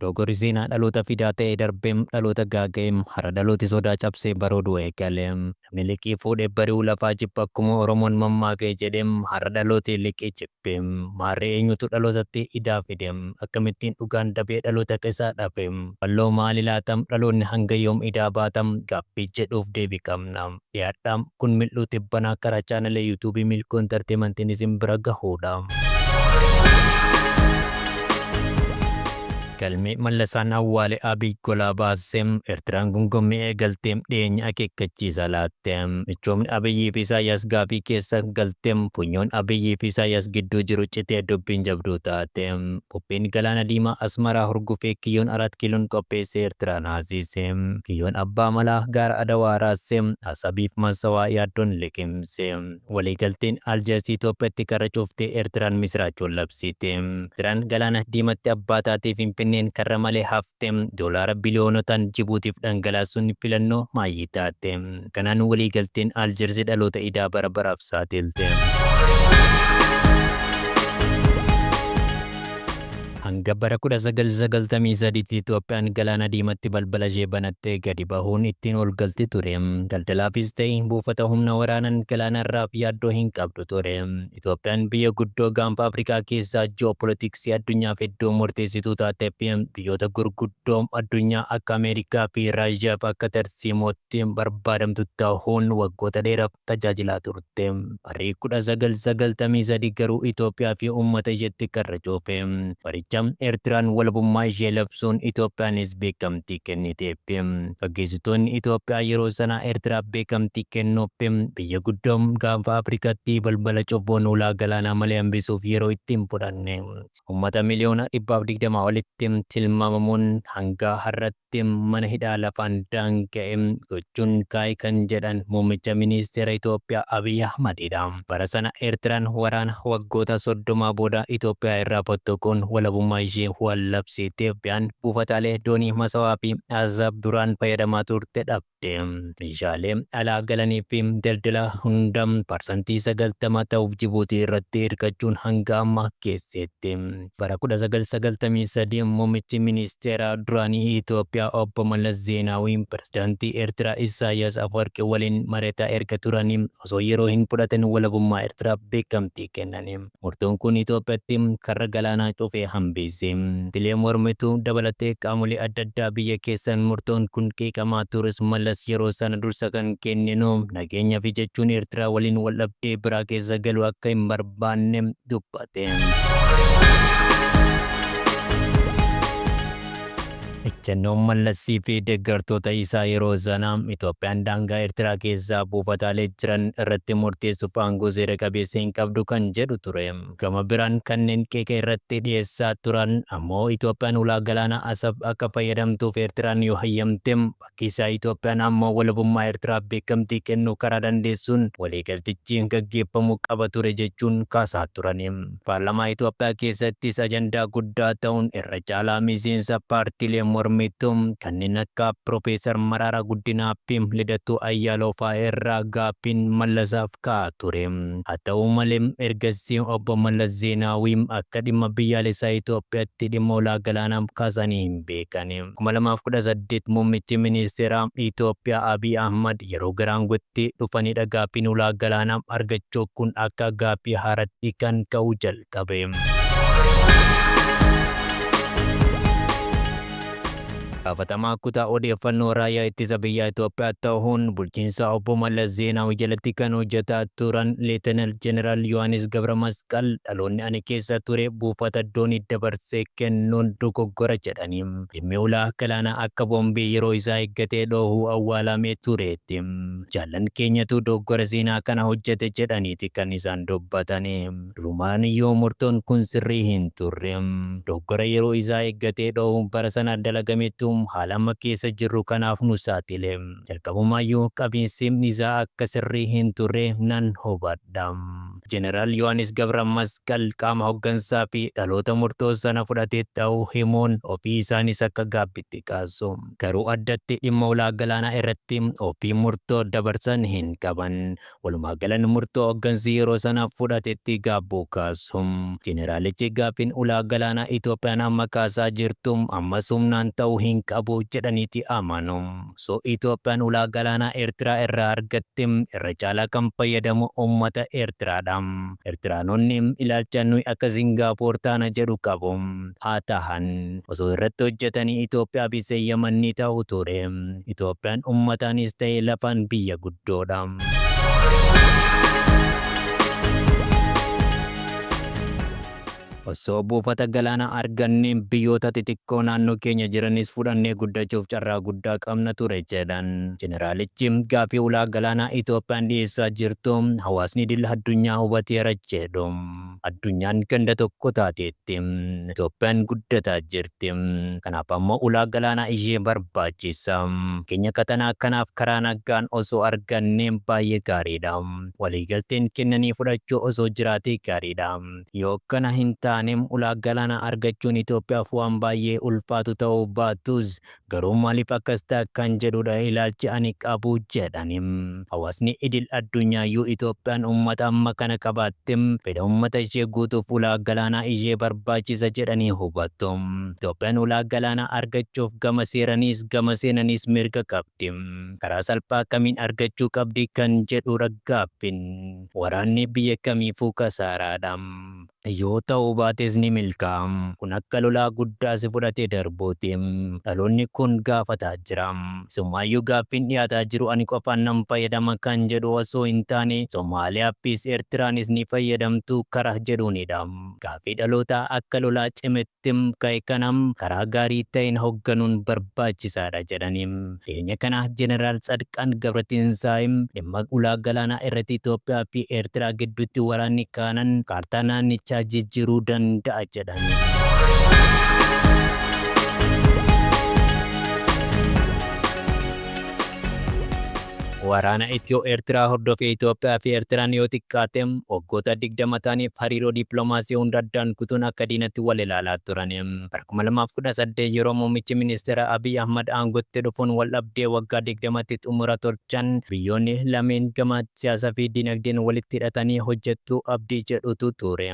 Dogogorri seenaa dhaloota fidaa ta'ee darbeem dhaloota gaaga'eem har'a dhalooti sodaa cabsee barooduu eegale. Namni liqii fuudhe bari'uu lafaa jibba akkuma Oromoon mammaake jedheem har'a dhalooti liqii jibbe. Maarree eenyutu dhalootatti idaa fide? Akkamittiin dhugaan dabee dhaloota keessaa dhafe? Walloo maali laata? Dhaloonni hanga yoom idaa baata? Gaaffii jedhuuf deebii qabna. Dhiyaadha! Kun mil'uu tibbanaa karaa chaanala YouTube Milkuu Entertainment'n isin bira gahuudha. Galmee Mallasaan awwaale Abiy golaa baase, Ertiraan gungummii eegalte, dhiyeenya akeekkachiisa laatte, michoomni Abiyyii fi Isaayyaas gaaffii keessa galte, funyoon Abiyyii fi Isaayyaas gidduu jiru citee dubbiin jabduu taate. Qophiin Galaana Diimaa Asmaraa hurgufee Kiyyoon Arat Kiiloon qopheesse Eertiraa naasise. Kiyyoon Abbaa Malaa gaara Adawaa raasse. Asabiif Massawaa yaaddoon liqimse. Waliigalteen Aljeers Itoophiyatti karra cufte Eertiraan misiraachoo labsite. Eertiraan Galaana Diimatti abbaa taatee Finfinneen karra malee hafte. T. Doolaara biliyoonotaan Jibuutiif dhangalaasuun filannoo maayyii taate. Kanaan waliigalteen Aljeersi dhaloota idaa bara baraaf saaxilte. Hanga bara 1993tti Itoophiyaan Galaana Diimatti balbala ishee banattee gadi bahuun ittiin ol galti ture. Daldalaafis ta'e buufata humna waraanaan galaana irraaf yaaddoo hin qabdu ture. Itoophiyaan biyya guddoo Gaanfa Afrikaa keessaa ji'oopolitiksii addunyaaf iddoo murteessituu taatee fi biyyoota gurguddoo addunyaa akka Ameerikaa fi Raashiyaaf akka tarsiimootti barbaadamtu tahuun waggoota dheeraaf tajaajilaa turte. Barri 1993 garuu Itoophiyaa fi uummata isheetti karra cuufe. Baricha Eertiraan walabummaa ishee labsuun Itoophiyaanis beekamtii kenniteef. Gaggeessitoonni Itoophiyaa yeroo sana Ertiraaf beekamtii kennuuf biyya guddoo Gaanfa Afrikaatti balbala cubbuun ulaa galaanaa malee hambisuuf yeroo itti hin fudhanne. Ummata miliyoona dhibbaaf digdamaa olitti tilmaamamuun hanga har'atti mana hidhaa lafaan daanga'e gochuun kaa'e kan jedhan Muummicha Ministeera Itoophiyaa Abiy Ahmad dha. Bara sana Ertiraan waraana waggoota soddomaa booda Itoophiyaa irraa fottoquun walabummaa ishee waan labsiitti Itoophiyaan buufataalee doonii Masawaa fi Asaab duraan fayyadamaa turte dhabde. Meeshaalee alaa galanii fi daldalaa hunda parsantii 90 ta'uuf Jibuutii irratti hirkachuun hanga ammaa geesseetti. Bara 1993 muummichi ministeeraa duraanii Itoophiyaa obbo Mallas Zeenaawii pirezidaantii Ertiraa Isaayaas Afwarqi waliin mari'ataa erga turanii osoo yeroo hin fudhatin walabummaa Ertiraaf beekamtii kennani. Murtoon kun Itoophiyatti karra galaanaa cufe hambiise. Paartilee mormituu dabalatee qaamolee adda addaa biyya keessaan murtoon kun qeeqamaa turus Mallas yeroo sana dursa kan kenninu nageenyafi jechuun Ertiraa waliin waldhabdee biraa keessa galuu akka hin barbaanne dubbate. Ejjennoon Mallas fi deeggartoota isaa yeroo sanaa Itoophiyaan daangaa Ertiraa keessaa buufataalee jiran irratti murteessuuf aangoo seera qabeessa hin qabdu kan jedhu ture. Gama biraan kanneen qeeqa irratti dhiyeessaa turan ammoo Itoophiyaan ulaa galaanaa Asab akka fayyadamtuuf Ertiraan yoo hayyamte keessaa Itoophiyaan ammoo walabummaa Ertiraaf beekamtii kennuu karaa dandeessuun waliigaltichi gaggeeffamuu qaba ture jechuun kaasaa turan. Paarlamaa Itoophiyaa keessattis ajandaa guddaa ta'uun irra caalaa miseensa paartiilee mormituu kanneen akka Pirofeesar Maraaraa Guddinaa fi Lidatuu Ayyaalaw fa'aa irraa gaaffiin Mallasaaf ka'aa ture. Haa ta'u malee, ergasii Obbo Mallas Zeenaawii akka dhimma biyyaalessaa Itoophiyaatti dhimma ulaa galaanaa kaasanii hin beekan. 2018 Muummichi Ministeeraa Itoophiyaa Abiy Ahmad yeroo gara aangootti dhufanidha gaaffiin ulaa galaanaa argachuu kun akka gaaffii haaraatti kan ka'uu jalqabe. Gaafatamaa kutaa odeeffannoo raayyaa ittisa biyyaa Itoophiyaa ta'uun bulchiinsa obbo Mallas Zeenaawi jalatti kan hojjetaa turan Leetenaal Jeneraal Yohaannis Gabramas Qal, dhaloonni ani keessa ture buufata doonii dabarsee kennuun dogoggora jedhani. Dhimmi ulaa galaanaa akka boombii yeroo isaa eeggatee dhoohuu awwaalamee tureetti. Jaallan keenyatu dogoggora seenaa kana hojjete jedhaniiti kan isaan dubbatani. Durumaan iyyuu murtoon kun sirrii hin turre. Dogoggora yeroo isaa eeggatee dhoohuun bara sana dalagametu haala amma keessa jirru kanaaf nu saaxile. Jalqabumaa iyyuu qabiinsi isaa akka sirrii hin turre nan hubadha. Jeneraal Yohaanis Gabramasqal qaama hoggansaa fi dhaloota murtoo sana fudhate ta'uu himuun ofii isaaniis akka gaabbiitti kaasu. Garuu addatti dhimma ulaa galaanaa irratti ofiin murtoo dabarsan hin qaban. Walumaagalan murtoo hoggansi yeroo sana fudhatetti gaabbuu kaasu. Jeneraalichi gaaffiin ulaa galaanaa Itoophiyaan amma kaasaa jirtu ammas humnaan ta'uu hin qabu jedhaniiti amanu. So Itoophiyaan ulaa galaanaa Eertiraa irraa argatte irra caalaa kan fayyadamu uummata Eertiraa dha. Eertiraanonni ilaalcha nuyi akka Singaapoor taana jedhu qabu. Haa tahan. Osoo irratti hojjetanii Itoophiyaa fi Seeyyaman ni tahu ture. Itoophiyaan uummataanis tahe lafaan biyya guddoo dha. Osoo buufata galaanaa argannee biyyoota xixiqqoo naannoo keenya jiranis fudhannee guddachuuf carraa guddaa qabna ture jedhan Jeneraalichi. Gaaffii ulaa galaanaa Itoophiyaan dhiyeessaa jirtu hawaasni idil addunyaa hubateera jedhu. Addunyaan ganda tokko taateetti. Itoophiyaan guddataa jirti. Kanaaf ammoo ulaa galaanaa ishee barbaachisa. Nageenya qaxanaa kanaaf karaa nagaan osoo argannee baay'ee gaariidha. Waliigalteen kennanii fudhachuu osoo jiraatee gaariidha. Yoo akkana hin taane ulaa galaanaa argachuun Itoophiyaaf waan baay'ee ulfaatu ta'uu baatus garuu maaliif akkas ta'a kan jedhuudha ilaalchi ani qabu jedhan. Hawaasni idil addunyaayyuu Itoophiyaan uummata amma kana qabaatte fedha uummata ishee guutuuf ulaa galaanaa ishee barbaachisa jedhanii hubatu. Itoophiyaan ulaa galaanaa argachuuf gama seeraniis gama seenaniis mirga qabdi. Karaa salphaa kamiin argachuu qabdi kan jedhuudha gaaffiin. Waraanni biyya kamiifuu kasaaraadha. Yoo ta'uu baates ni milkaa'a. Kun akka lolaa guddaa si fudhatee darbuuti. Dhaloonni kun gaafataa jira. Isumaayyuu gaaffiin dhiyaataa jiru ani qofaan nan fayyadama kan jedhu osoo hin taane Somaaliyaafis Ertiraanis ni fayyadamtuu karah jedhuunidha. Gaaffii dhalootaa akka lolaa cimetti. Tim ka'e kana karaa gaarii ta'een hogganuun barbaachisaadha jedhani. Dhiheenya kana Jeneraal Tsadqaan Gabratinsaay dhimma ulaa galaanaa irratti Itoophiyaa fi Eertiraa gidduutti waraanni kaanan kaartaa naannichaa jijjiiruu danda'a jedhan. Waraana Ityoo-Eertiraa hordofee Itoophiyaa fi Eertiraan yoo xiqqaate waggoota 20 ta'aniif hariiroo dippiloomaasii hunda addaan kutuun akka diinatti wal ilaalaa turan. Bara 2018 yeroo muummichi ministeeraa Abiy Ahmad aangootti dhufuun wal dhabdee waggaa 20tti xumura tolchan biyyoonni lameen gama siyaasaa fi dinagdeen walitti hidhatanii hojjetu abdii jedhutu ture.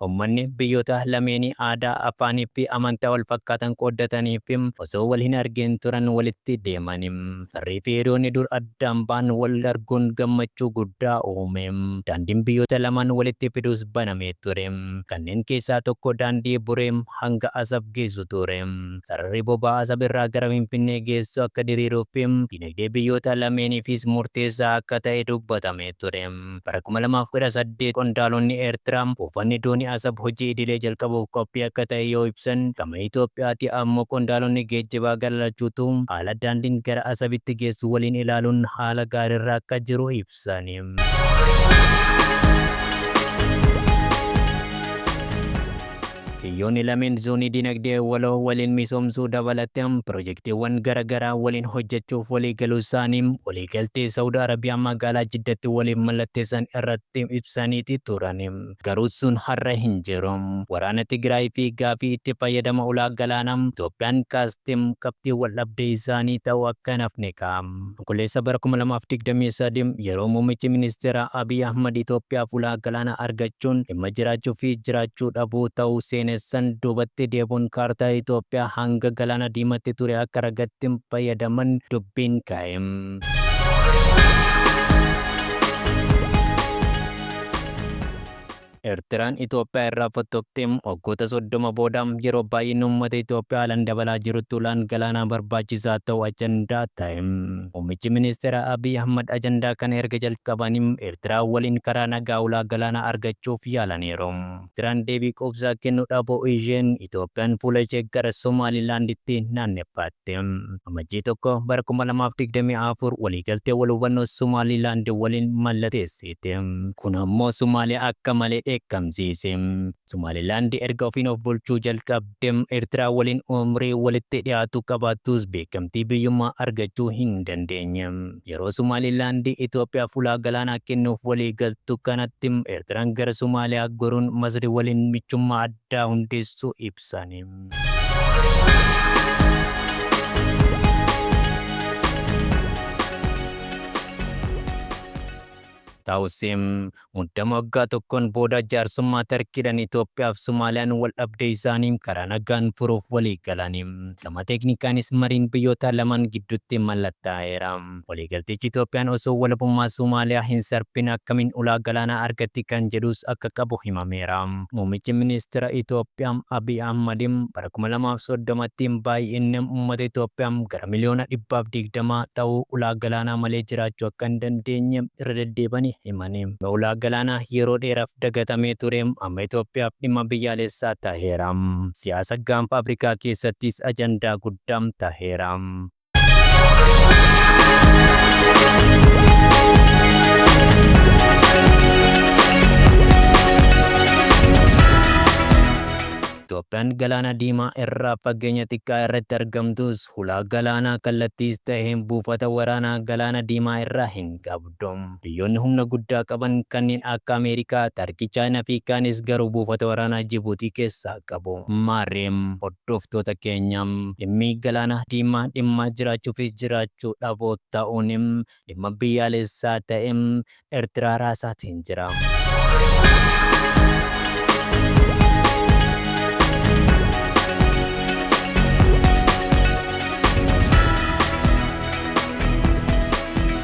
Ummanni biyyoota lameenii aadaa, afaanii fi amantaa wal fakkaatan qooddatanii fi osoo wal hin argiin turan walitti deeman. Firrii fi hiriyoonni dur addaan ba'an wal arguun gammachuu guddaa uume. Daandiin biyyoota lamaan walitti fidus banamee ture. Kanneen keessaa tokko daandii Buree hanga Asab geessu ture. Sararri boba'aa Asab irraa gara Finfinnee geessu akka diriiruuf fi dinagdee biyyoota lameeniifis murteessaa akka ta'e dubbatamee ture. Bara 2018 qondaalonni Eertiraa buufanni doonii Asab hojii idilee jalqabuuf qophii akka ta'e yoo ibsan, gama Itoophiyaatii ammoo qondaalonni geejjibaa gara lachuutuu haala daandiin gara Asabitti geessu waliin ilaaluun haala gaariirra akka jiru ibsani. Biyyoonni lameen zoonii dinagdee waloo waliin misoomsuu dabalatee pirojektiiwwan gara garaa waliin hojjechuuf waliigaluusaanii waliigaltee Sa'ud Arabiyaa magaalaa Jiddatti waliif mallatteessan irratti ibsaniiti turan. Garuu sun har'a hin jiru. Waraana Tigraay fi gaaffii itti fayyadama ulaa galaanaa Itoophiyaan kaaste qabxii waldhabdee isaanii ta'uu akka hin hafne ka'a. Onkololeessa bara 2023 yeroo Muummichi Ministeeraa Abiy Ahmad Itoophiyaaf ulaa galaanaa argachuun dhimma jiraachuu fi jiraachuu dhabuu ta'uu seenessan duubatti deebuun kaartaa Itoophiyaa hanga Galaana Diimatti ture akka ragatti fayyadaman dubbiin ka'e. Ertiraan Itoophiyaa irraa fottoqxee waggoota 30 booda yeroo baay'inni uummata Itoophiyaa haalan dabalaa jirutti ulaan galaanaa barbaachisaa ta'uu ajandaa ta'e. Muummichi Ministeeraa Abiy Ahmad ajandaa kana erga jalqabanii Ertiraa waliin karaa nagaa ulaa galaanaa argachuuf yaalaniiru. Ertiraan deebii quubsaa kennuu dhabuu isheen Itoophiyaan fuula ishee gara Somaalilaanditti naanneffaatte. Amajjii 1, bara 2024 waliigaltee wal hubannoo Somaalilaand waliin mallateessite. Siite. Kun ammoo Somaaliyaa akka malee dheekkamsiise. Somaalilaand erga ofiin of bulchuu jalqabde Ertiraa waliin umrii walitti dhiyaatu qabaattus beekamtii biyyummaa argachuu hin dandeenye. Yeroo Somaalilaand Itoophiyaaf ulaa galaanaa kennuuf walii galtu kanatti Ertiraan gara Somaaliyaa goruun Masri waliin michummaa addaa hundeessuu ibsan. Taawusiim muddama waggaa tokkoon booda jaarsummaa Tarkiidhaan Itoophiyaaf Somaaliyaan wal dhabdee isaanii karaa nagaan furuuf walii galaniim. Gama teeknikaanis mariin biyyoota lamaan gidduutti mallattaa'eera. Waliigaltichi Itoophiyaan osoo walabummaa Somaaliyaa hin sarbin akkamiin ulaa galaanaa argatti kan jedhus akka qabu himameera. Muummichi Ministeera Itoophiyaa Abiy Ahmad bara kuma lamaa fi soddomatti baay'inni uummata Itoophiyaa gara miliyoona dhibba fi digdama ta'u ulaa galaanaa malee jiraachuu akka hin dandeenye irra deddeebi'anii himani. Ulaa galaanaa yeroo dheeraaf dagatamee ture amma Itoophiyaaf dhimma biyyaalessaa taheera. Siyaasa Gaanfa Afrikaa keessattis ajandaa guddaa taheera. Itoophiyaan Galaana Diimaa irraa fageenya xiqqaa irratti argamtus hulaa galaanaa kallattiis ta'e buufata waraanaa Galaana Diimaa irraa hin qabdu. Dom. Biyyoonni humna guddaa qaban kanneen akka Ameerikaa, Tarkii, Chaayinaa fi kaanis garuu buufata waraanaa Jibuutii keessaa qabu. Maarree, hordoftoota keenya, dhimmi Galaana Diimaa dhimma jiraachuu fi jiraachuu dhabuu ta'uun dhimma biyyaalessaa ta'e Ertiraa raasaatiin jira.